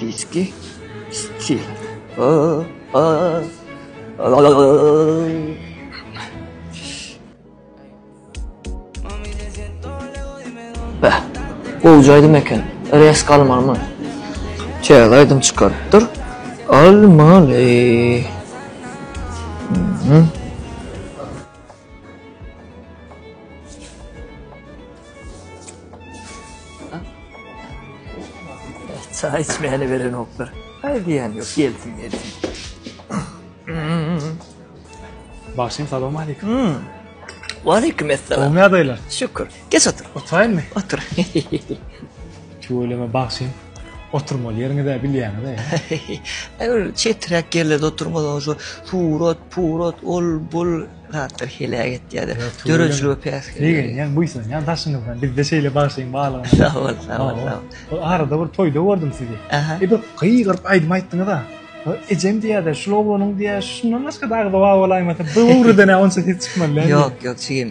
Diski stil. Beh, gowja aýdym eken. Resk almalymy? Täze aýdym çykarypdyr. Almaly. Çaý içmäne berenoklar. Aý diýýän ýok, gelsin, gelsin. Bagşym, salam aleýkum. Waleýkim esselam. Gowymy ýagdaýlar? Şükür. Geç otur. Oturaýynmy? Otur. Tüweleme bagşym. Oturmaly ýeriňiz-ä bilýäňiz-ä. Aýur çetiräk ýerlerde oturmaly şu surat, purat, ol, bul zatlar heläk etýär. Döredijiligi pes. Begenýän, buýsanýan daşyňyzdan. Bizde şeýle bagşyň barlygyna. Sag bol, sag bol, sag bol. Ol arada bir toýda gördüm sizi. Aha. E bir gygyryp aýdym aýtdyňyz-a. Ejem diýýärdi, şul oglanyň diýýär, şundan başga-da agzy bar bolaýmasa, bu ugrudan-a onça ses çykmaz. Ýok, ýok, jigim.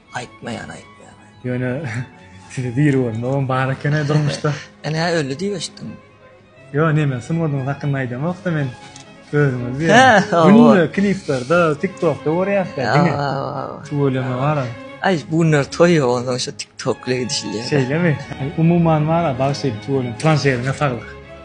Aýtmaýan aýtmaýan. Ýöne sizi diri görmegem bar ekeni durmuşda. Ene öli diýip eşitdim. Ýok ine men sungadyňyz hakynda aýdamokda men özüňiz diýýän. Günde kliplarda, TikTokda görýäs da diňe. Tüweleme bar. Aý bu günler toý ýok onda şo TikTok bilen gidişilýär. Şeýlemi? Umuman bar bagşy tüweleme. Turan şehrine saglyk.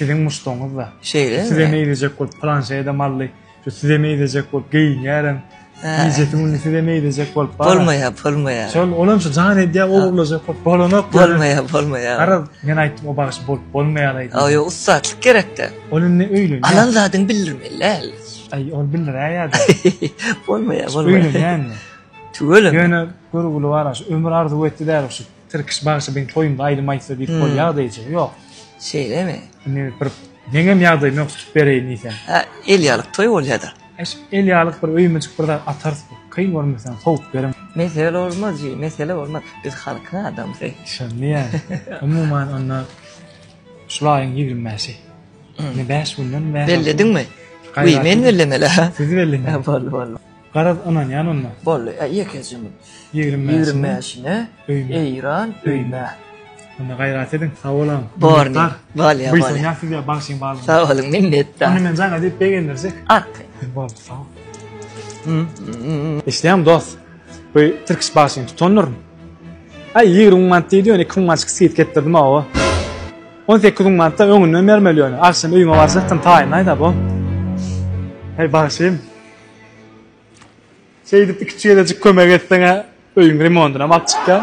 Siziň muşdagyňyz-da. Şeýle. Size meýlejek bolup planşeýe-de mally, şu size meýlejek bolup geýinýärem. Gijesi gündizi size meýlejek bolup bar. Bolmaýar, bolmaýar. Şol ol hem şu jan edýär, ogurlajak bolup bolanok. Bolmaýar, bolmaýar. Garaz, men aýtdym, o bagşy bolup bolmaýar aýdym. Aý, ussatlyk gerek-dä. Ol indi öýlenýär. Alan zadyňy bildirmeli däl. Aý, ol bildiräý ýa-da. Bolmaýar, bolmaýar. Öýlenýär indi. Tüweleme. Ýöne görgüli bar-a, şu ömür arzuw etdi däl şu. Tirkiş bagşy biň toýumda aýdym aýtsa diýip bolýa da eje ýok. Şeýlemi? Indi bir meňem ýagdaýym ýok tutup bereýin diýsem. Hä el ýalyk toý bolýada. Eş el ýalyk bir öýmejik bir zat atarys bir kyn görmeseň sowup beriň. Mesele bolmaz ji mesele bolmaz biz halkyň adamsy. Şony ýaly. Umuman onda şul aýyň ýigrimi bäşi. Indi bäş günden bäri. Bellediňmi? Wi men bellemeli. Siz bellemäň. Boldy boldy. Garaz ynanýan onda. Boldy e ýeke jymy. Ýigrim Ýigrim bäşine öýme. Eýran öýme. Onda gaýrat ediň. Sag boluň. Borny. Bolýa bolýa. Buýsanýas size bagşyň barlygyna. Sag boluň minnetdar. Onda men jaňa diýip begendirjek. At. Boldy sag bol. Eşidýäňmi dost. Bu tirkiş bagşyny tutandyryn. Aý ýigrim müň manat diýdi ýöne iki müň manatyk skidka etdirdim hawa. On sekiz müň manat-da öňünden bermeli ýöne. Agşam öýüme barjakdym taýynlaýda bo. Heý bagşym. Şeýdip iki çeýlejik kömek etseň-ä öýüň remondynam alyp çykýaň.